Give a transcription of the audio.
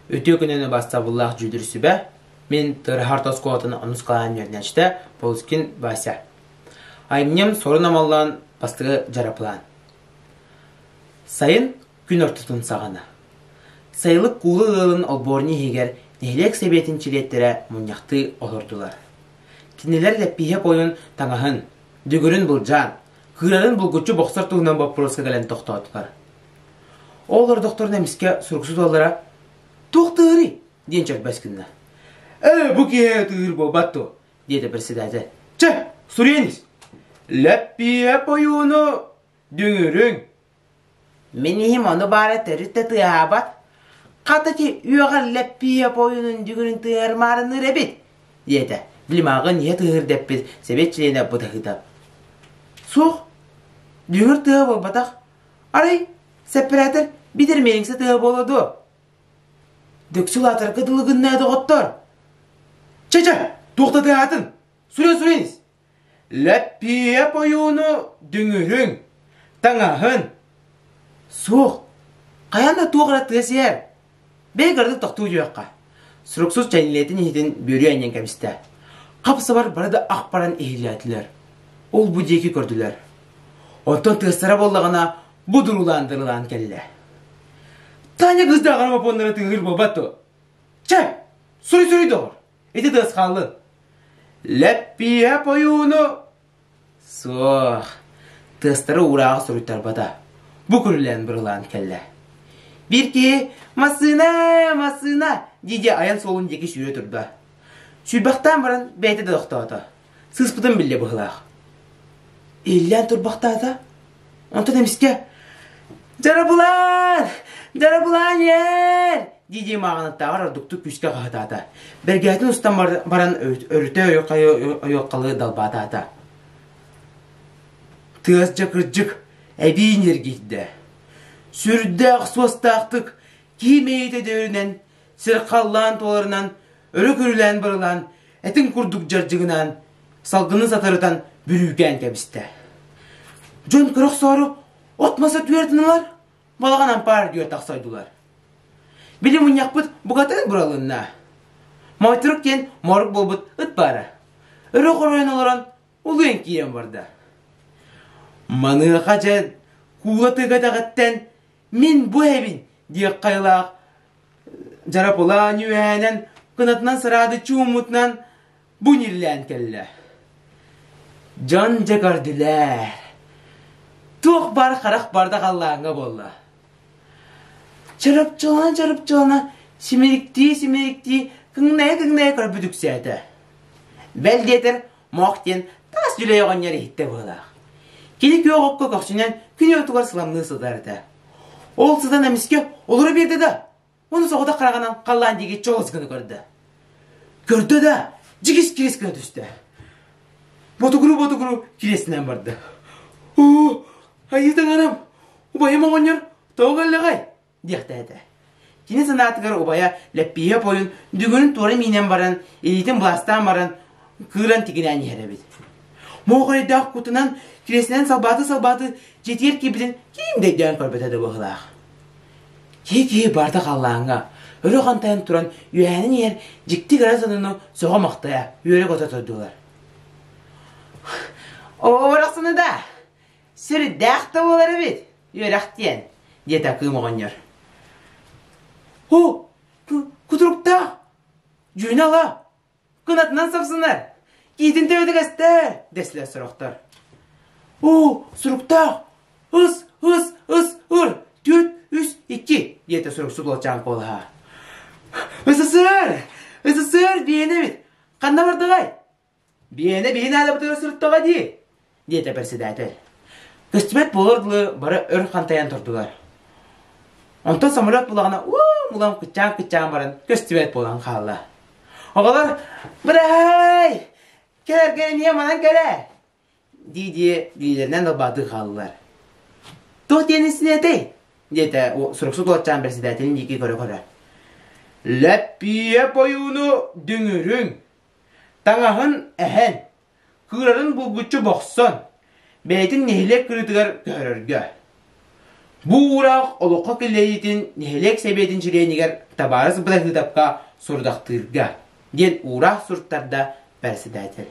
Үтүө күнүнү бастабыллаах дьүүлүр сүбэ, мин Тырыһар тоскуолатын нуускалаан үөрэнээччитэ Полускин Вася. Айымньым сорун амаллаан бастыгы дьарапылаан. Сайын күн ортотун саҕана. Сайылык куулу ыалын олбуорни иһигэр нэһилиэк сэбиэтин чилиэттэрэ мунньахтыы олордулар. Кинилэр лэппииһэ пойун таҥаһын, дүгүрүн былдьаан, кыырарын булгуччу бохсор туһунан боппуруоска кэлэн тохтоотулар. Ол родохторун эмискэ суруксут уоллара «Туох тыырый?» диэн чөрбөс гынна. «Ээ, бу киһи тыыр буолбат дуо?» диэтэ председатель. «Чэ, суруйаниз! Лэппиэп ойууну дүҥүрүҥ!» «Мин иһим ону баара төрүт да тыаһаабат. Хата ити үөҕэр лэппиэп ойуунун дүҥүрүн тыаһар маарыныыр эбит!» диэтэ. Лимаҕын иһэ тыыһыр дэппит, сэбиэт чилиэнэ бытаһыта. «Суох, дүҥүр тыаһа буолбатах, Арай, сэппэрээтэр битирмээҥ сытыа буола дуо? Дөксү улаатарга дылы гыннаа доҕоттоор. Чэ-чэ, туохтатыаҕатын? Сүрүн сүрүнс. Лэппиэп ойууну дүҥүрүҥ, таҥаһын. Суох, хайаан да туох эрэ тыас иһэр. Бэйэ кыратык тохтуу дьүөххэ. Суруксус чэнилиэтин иһитин бүрүү анньан кэбистэ. Хапсабар бары да ах баран иһиллээтилэр. Ол-бу диэки көрдүлэр. Онтон тыастара буоллаҕына, бу дуруулаан дырылаан кэллэ. Таня кыз да аҕара бопоннара тыыһыр буолбат дуо? Чэ, суруй-суруй доҕор. Ити тыас хааллы. Лэппиэп ойууну Суох, тыастары уураҕа суруйтарбата. Бу көрүлээн бырылаан кэллэ. Биир киһи «Массыына! Массыына!» дии-дии айан суолун диэки сүүрэ турда. Сүүрбэхтээн баран бэйэтэ да тохтоото. Сыыспытын биллэ быһылаах. Иллээн турбахтаата. Онтон эмискэ «Дьарабылан! Дьарабылан иэр!» дии-дии мааҕынаттааҕар ордуктук күүскэ хаһытаата. Бэргэһэтин устан баран өрүтэ ойуоккалыы далбаатаата. Тыас дьакырдьык эбии ньиргийдэ. Сүрдээх суостаахтык киим эйэтэ дээринэн, сир халлаан туоларынан өрө-көрүлээн бырылаан, этин курдук дьардьыгынаан, салгыны сатарытан бүрүүкээн кэбистэ. Дьон көрөхсөөрү от-маса түөртүнэлар, балаҕан ампаар түөр тахсайдылар. Били мунньахпыт букатын буралынна. Майтырук диэн морук буолбут ыт баара. Өрө хоройон олорон улуйан киирэн барда. Маныаха дьэ куула тыга даҕаттан Мин бу эбин диэх хайылаах Жарапылаан үөһэнэн кынатынан сыраадыччы уммутунан бу ниллээн кэллэ. Дьон дьэ көрдүлэр. Туох бар харах барда халлааҥҥа буолла. Чарапчылана чарапчылана симириктии симириктии кыҥнайа кыҥнайа көрбүтүксээтэ. Бэл диэтэр Мох диэн таас дьүлэй оҕонньор иһиттэ быһылаах. Кини күөх окко көхсүнэн күн уотугар сыламныы сытарыта. Ол сытан эмискэ олоро биэрдэ да, оны соҕотох хараҕынан халлаан диэки чоҕыс гына көрдө. Көрдө да, дьигис кириэс гына түстэ. Ботугуру ботугуру кириэснэн барда. Оо, айыы таҥарам, убайым оҕонньор тоҕо өллэҕэй? диэхтээтэ. Кини санаатыгар убайа Лэппииһэ пойун дүгүнүн туора миинэн баран, илиитин быластаан баран, кыыран тигинээн иһэр эбит. Муохайдаах кутунан кириэсинэн салбааты-салбааты дьитиэр киэбитин киин дэйдээн көрбөтө да быһылаах. Кии-кии барда халлааҥҥа, өрө хантайан туран үөһэнин иһэр дьикти gara сонуну сөҕө-махтайа үөрэ-көтө турдулар. Оо, барахсаны да! Сүрдээх да буолар эбит! Үөрэхтиэн, диэтэ Кыым оҕонньор. Һу, кутуруктаах! Дьүнэ ала! Кынатынан сапсынар! Киитин төбөтүгэстэ! дэсилэр сорохтор. Уу, суруктаах! Ыс, ыс, ыс, ыр! Түөрт, үс, икки! диэтэ суруксут уолчаан куолаһа. Ысысыр! Ысысыр, биэнэбит! Ханна бардыгай? Биэнэ биһи наада бытары сырыттаҕа дии, диэтэ председатель. Көстүбэт буолар дылы бары өр хантайан турдулар. Онтон самолет булаҕына уу мулан кыччаан-кыччаан баран көстүбэт буолан хаалла. Оҕолор «Быраай! Кэлэргэ эмиэ манан кэлээ!» дии-дии Лилэнэн ылбаатыы хааллылар. Туох диэн истиний этэй? диэтэ суруксут уотчаан председателин диэки көрө-көрө. Лэппиэ бойууну дүҥүрүҥ, таҥаһын эһэн, кыырарын булгуччу бохсон, бэйэтин нэһилиэк кырыытыгар көһөрөргө. Бу уураах олоххо киллэриитин нэһилиэк сэбиэтин чилиэнигэр Табаарыс Бырахыытапка сорудахтыырга, диэн уураах суруттарда председатель